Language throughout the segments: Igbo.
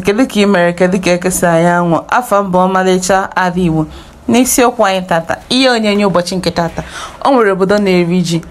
kedu ka ị mere kedu ka eke si anya anwụ afa m bụ ọmalịcha ada igbo n'isiokwu anyị tata ihe onyonyo ụbọchị nke tata o nwere obodo na-eri ji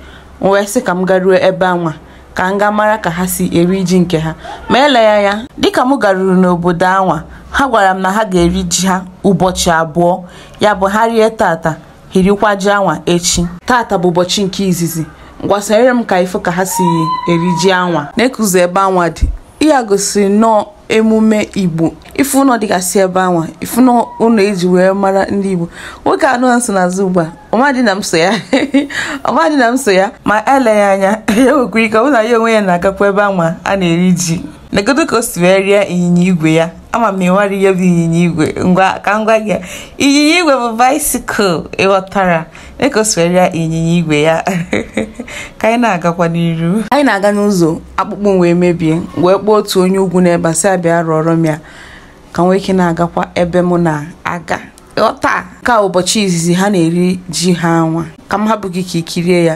m wee sị ka m garuo ebe anwa ka m gaa mara ka ha si eri ji nke ha ma eleghị anya dịka m garuru n'obodo anwa ha gwara m na ha ga-eri ji ha ụbọchị abụọ ya bụ ha rie tata ha erikwa ji anwa echi tata bụ ụbọchị nke izizi ngwa sonyere m ka ị fụ ka ha si eri ji anwa na-ekuzi ebe anwa dị ya gosiri nnọọ emume igbo ị fụ ụnọ dịgasị ebe anwa ị fụ ụnọ e ji wee mara ndị igbo nwoke anwa m so n'azụ ugbu a ọ madị na m so ya ọ madị na m so ya ma eleghị anya ya nwekwara ike ọ bụ na ya onwe ya na-agakwa ebe anwa a na-eri ji negodu ka o si wee rịa ịnyịnya igwe ya ama m ma ị mara ihe bụ ịnyịnya igwe ngwa ka m gwa gị ịnyịnya igwe bụ baisikụl ịghọtara dịka o si wee rịa ịnyịnya igwe ya ka anyị na-agakwa n'iru anyị na-aga n'ụzọ akpụkpọ m wee mebie wee kpọọ otu onye ugwu n'ebe a sị ya bịa rụọrọ m ya ka m nwee ike na-agakwa ebe mụ na-aga taa ka ụbọchị izizi ha na-eri ji ha anwa ka m hapụ gị ka i kirie ya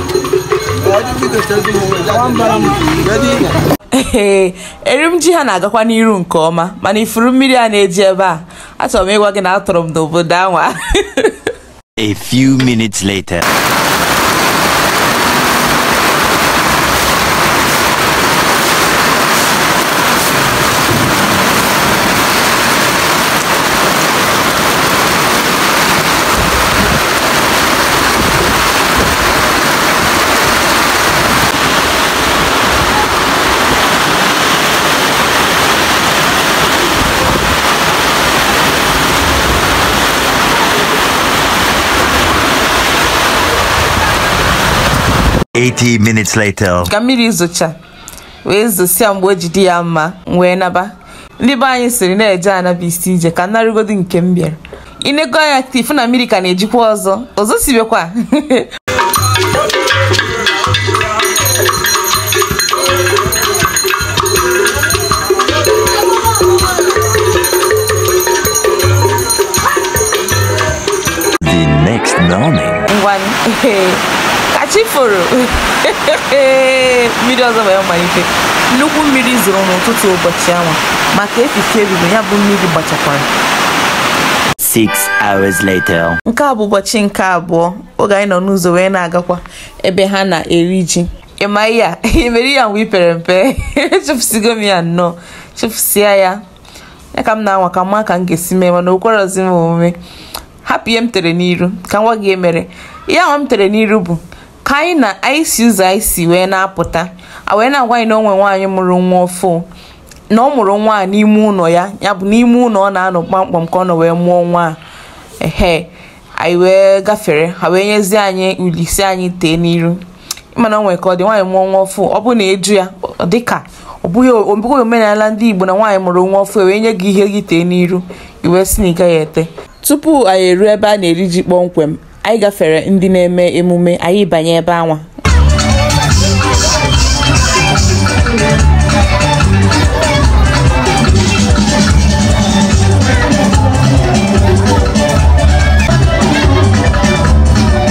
ee erim ji ha na-agakwa n'iru nke ọma mana ị fụrụ mmiri a na-eji ebe a achọrọ m ịgwa gị na atọrọ m n'obodo anwa A few minutes later. 80 minutes later. ka mmiri zocha wee zosịa mgbe o ji dị ya mma m wee naba ndị be anyị sịrị na eje ana bụ isi ije ka m narigodu nke m bịara i nego anya ị fụ na mmiri ka na-ejikwa ọzọ ọ zosibekwa The next morning. ngwanụ ka chi foro mmiri ọzọ wee malite nnukwu mmiri zoro n'ụtụtụ ụbọchị ahụ maka efifie ebido ya bụ mmiri gbachakwara Six hours later. nke a bụ ụbọchị nke abụọ oge anyị nọ n'ụzọ wee na-agakwa ebe ha na-eri ji ị ma ihe a i mere ya mgbe i pere mpe chefusigo m ya nnọọ chefusia ya ya ka m na-anwa ka m ma ka m ga-esi mee mana okwerozi m omume hapụ ihe m tere n'iru ka m gwa gị ihe mere ihe ahụ m tere n'iru bụ ka anyị na anyị si ụzọ anyị si wee na-apụta a wee na-agwa anyị na o nwe nwaanyị mụrụ nwa ọfụ na ọ mụrụ nwa a n'ime ụlọ ya ya bụ n'ime ụlọ ọ na-anọ kpamkpam ka ọ nọ wee mụọ nwa a ehe anyị wee gafere ha wee nyezie anyị uli sị anyị tee n'iru mana o nwere ka ọ dị nwaanyị mụọ nwa ọfụ ọ bụ na eju ya dịka ọ bụghị omenala ndị Igbo na nwaanyị mụrụ nwa ọfụ wee nye gị ihe gị tee n'iru i wee sị na ị gaghị ete tupu anyị eruo ebe a na-eri ji kpọmkwem anyị gafere ndị na-eme emume anyị banye ebe anwa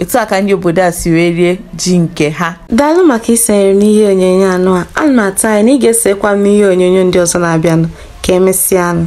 etu a ka ndị obodo a si wee rie ji nke ha daalụ maka isonyere m n'ihe onyonyo anụ a ana m atụ anya na ị ga-esokwa m n'ihe onyonyo ndị ọzọ na-abịanụ ka emesịanụ